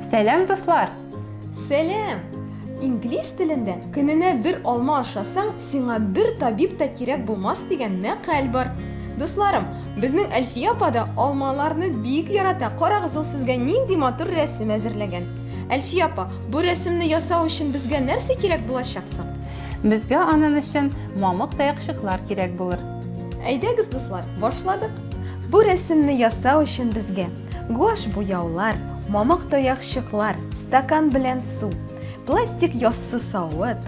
Сәлам, дуслар! Сәлам! Инглиз телендә көненә бер алма ашасаң, сиңа бер табиб та кирәк булмас дигән мәкаль бар. Дусларым, безнең Әлфия апа да алмаларны бик ярата. Карагыз, ул сезгә нинди матур рәсем әзерләгән. Әлфия апа, бу рәсемне ясау өчен безгә нәрсә кирәк булачак соң? Безгә аның өчен мамык таякчыклар кирәк булыр. Әйдәгез, дуслар, башладык! Бу рәсемне ясау өчен безгә гуаш буяулар, мамык таякчыклар, стакан белән су, пластик яссы савыт,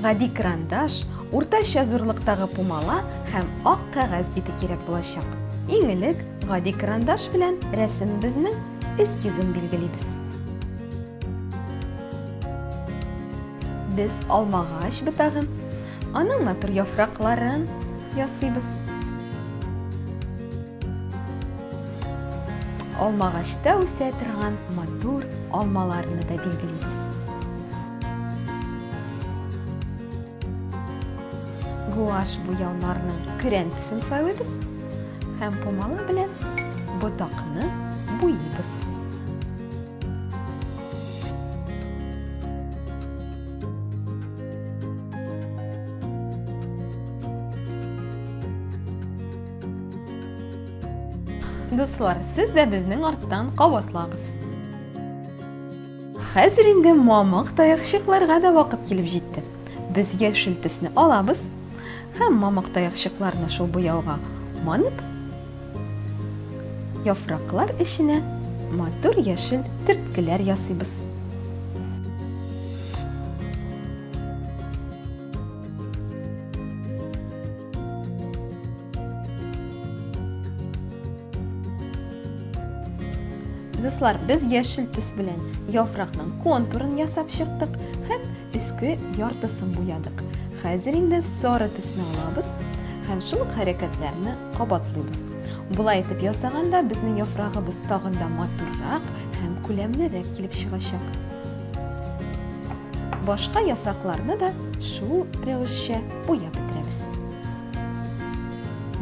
гади карандаш, уртача зурлыктагы пумала һәм ак кәгазь бите кирәк булачак. Иң элек гади карандаш белән рәсемебезне Өст йөзен билгелибез. Без алмагач бытагын, аның матур яфракларын ясыйбыз. Алмагачта үсә торган матур алмаларны да билгелибез. Гуаш буяуларның көрәнтесен сайлыйбыз. Һәм пумала белән ботакны буйыбыз. Дуслар, сез дә безнең арттан кабатлагыз. Хәзер инде мамык таякчыкларга да вакыт килеп җитте. Без яшел төсне алабыз, Һәм мамык таякчыкларны шул буяуга манып, яфраклар эченә матур яшел төрткеләр ясыйбыз. Дуслар, без яшел төс белән яфракның контурын ясап чыктык һәм Өске яртысын буядык. Хәзер инде сары төсне алабыз һәм шул ук хәрәкәтләрне кабатлыйбыз. Болай итеп ясаганда безнең яфрагыбыз тагын да матуррак һәм күләмлерәк килеп чыгачак. Башка яфракларны да шул рәвешчә буяп бетерәбез.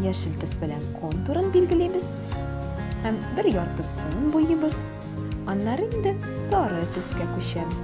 Яшел төс белән контурын билгелибез һәм бер яртысын буйыбыз. Аннары инде сары төскә күчәбез.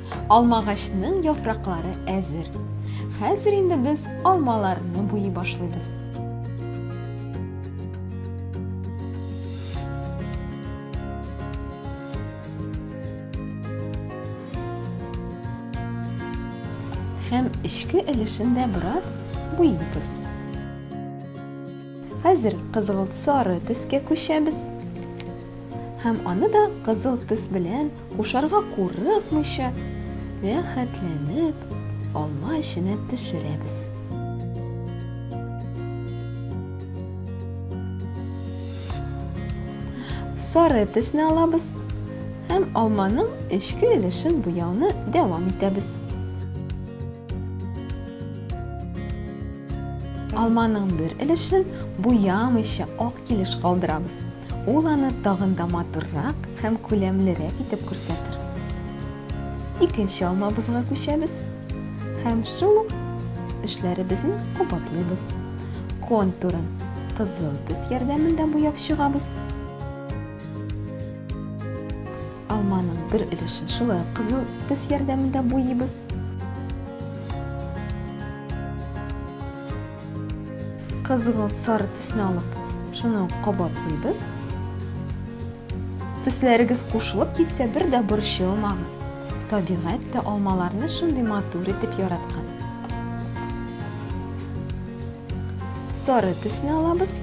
Алмагачның яфраклары әзер. Хәзер инде без алмаларны буйый башлыйбыз. һәм эчке өлешен дә бераз буйыйбыз. Хәзер кызыл сары төскә күчәбез һәм аны да кызыл төс белән Кушарга курыкмыйча, рәхәтләнеп алма эченә төшерәбез. Сары төсне алабыз һәм алманың эчке өлешен буяуны дәвам итәбез. Алманың бер өлешен буямыйча ак килеш калдырабыз. Ул аны тагын да матуррак һәм күләмлерәк итеп күрсәтер. Икенче алмабызга күчәбез һәм шул ук эшләребезне кабатлыйбыз. Контурын кызыл төс ярдәмендә буяп чыгабыз. Алманың бер өлешен шулай кызыл төс ярдәмендә буйыбыз. Кызгылт сары төсне алып, шуны ук кабатлыйбыз. Төсләрегез кушылып китсә, бер дә борчылмагыз. Табигать тә алмаларны шундый матур итеп яраткан. Сары төсне алабыз.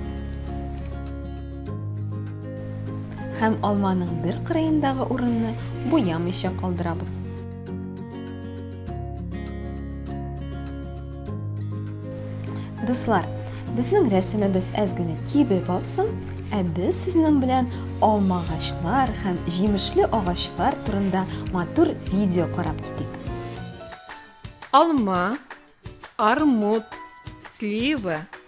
Һәм алманың бер кырыендагы урынны буямыйча калдырабыз. Дуслар, безнең рәсемебез әз генә кибеп атсын, ә без сезнең белән алма агачлар һәм җимешле агачлар турында матур видео карап китик. Алма, армут, слива,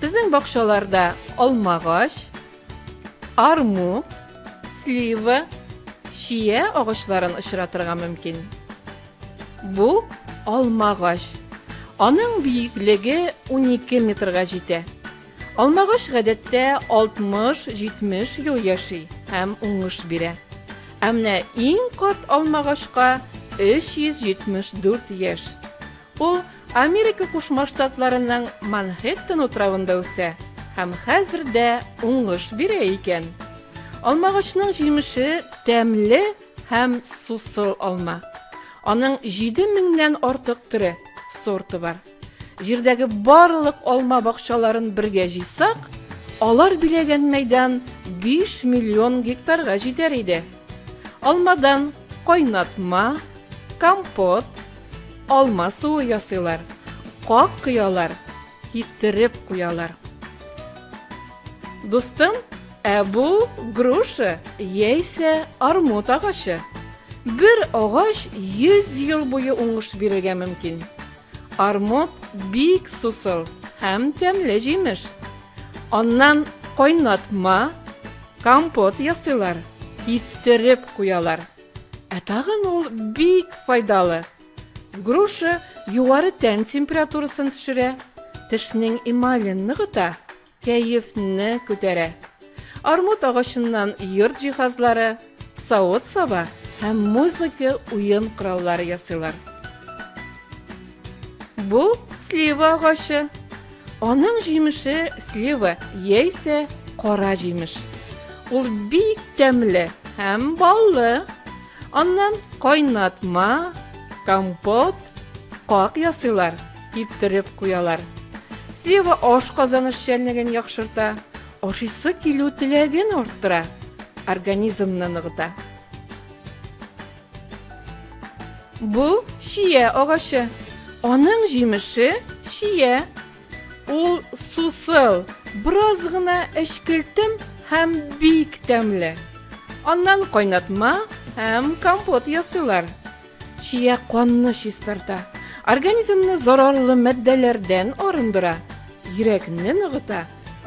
Безнең бакчаларда алмагач, арму, слива, чия агачларын очратырга мөмкин. Бу алмагач. Аның биеклеге 12 метрга җитә. Алмагач гадәттә 60-70 ел яши һәм уңыш бирә. Ә менә иң карт алмагачка 374 яшь. Ул Америка Кушма Штатларының Манхэттен утравында үсә һәм хәзер дә уңыш бирә икән. Алмагачның җимеше тәмле һәм сусыл алма. Аның җиде меңнән артык төре, сорты бар. Җирдәге барлык алма бакчаларын бергә җыйсак, алар биләгән мәйдан биш миллион гектарга җитәр иде. Алмадан кайнатма, компот, алма суы ясыйлар, как кыялар, китереп куялар. Дустым, ә бу груша яисә армут агачы. Бер агач 100 ел буе уңыш бирергә мөмкин. Армуд бик сусыл һәм тәмле җимеш. Аннан кайнатма, компот ясыйлар, киптереп куялар. Ә тагын ул бик файдалы. Груша югары тән температурасын төшерә, тешнең эмален ныгыта, Кәефне күтәрә. Армут агачыннан йорт җиһазлары, савыт-саба һәм музыка уен кораллары ясыйлар. Бу слива агачы. Аның җимеше слива яисә кара җимеш. Ул бик тәмле һәм баллы. Аннан кайнатма, компот, как ясыйлар, киптереп куялар. Слива ашказан эшчәнлеген яхшырта, ашыйсы килү теләген арттыра, организмны ныгыта. Бу чия агачы. Аның җимеше чия. Ул сусыл, бераз гына эчкелтем һәм бик тәмле. Аннан кайнатма һәм компот ясыйлар. Чия канны чистарта, организмны зарарлы матдәләрдән арындыра, йөрәкне ныгыта,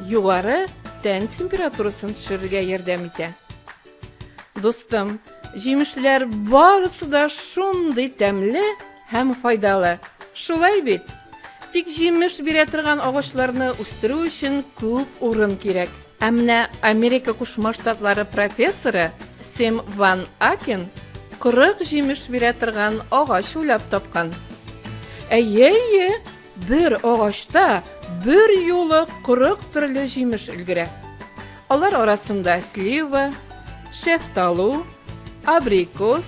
югары тән температурасын төшерергә ярдәм итә. Дустым, җимешләр барысы да шундый тәмле, Һәм файдалы. Шулай бит? Тик җимеш бирә торган агачларны үстерү өчен күп урын кирәк. Ә менә Америка Кушма Штатлары профессоры Сэм Ван Акен 40 җимеш бирә торган агач уйлап тапкан. Әйе, әйе, бер агачта бер юлы 40 төрле җимеш өлгерә. Алар арасында слива, шефталу, абрикос,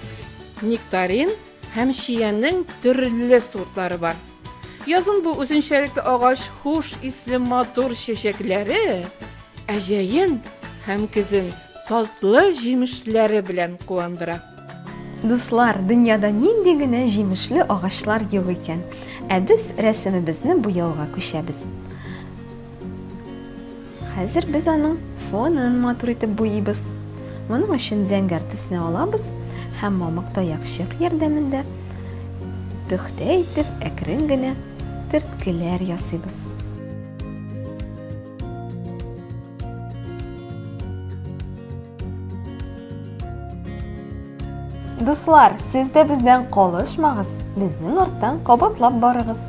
нектарин Һәм чиянең төрле сортлары бар. Язын бу үзенчәлекле агач хуш исле матур чәчәкләре, ә җәен һәм көзен татлы җимешләре белән куандыра. Дуслар, дөньяда нинди генә җимешле агачлар юк икән! Ә без рәсемебезне буяуга күчәбез. Хәзер без аның фонын матур итеп буйыйбыз. Моның өчен зәңгәр төсне алабыз һәм мамык таякчык ярдәмендә пөхтә итеп әкрен генә төрткеләр ясыйбыз. Дуслар, сез дә бездән калышмагыз, безнең арттан кабатлап барыгыз.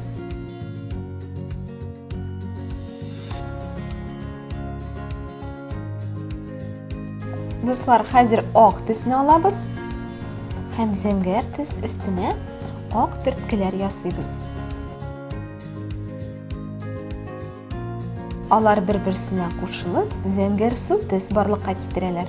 Дуслар, хәзер ак төсне алабыз һәм зәңгәр төс өстенә ак төрткеләр ясыйбыз. Алар бер-берсенә кушылып, зәңгәр су төс барлыкка китерәләр.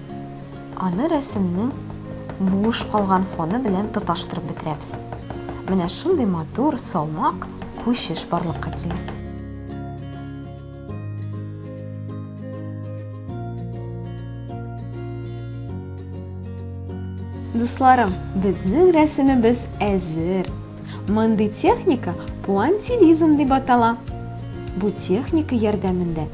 Аны рәсемнең буш калган фоны белән тоташтырып бетерәбез. Менә шундый матур, салмак күчеш барлыкка килә. Дусларым, безнең рәсемебез әзер. Мондый техника пуантилизм дип атала. Бу техника ярдәмендә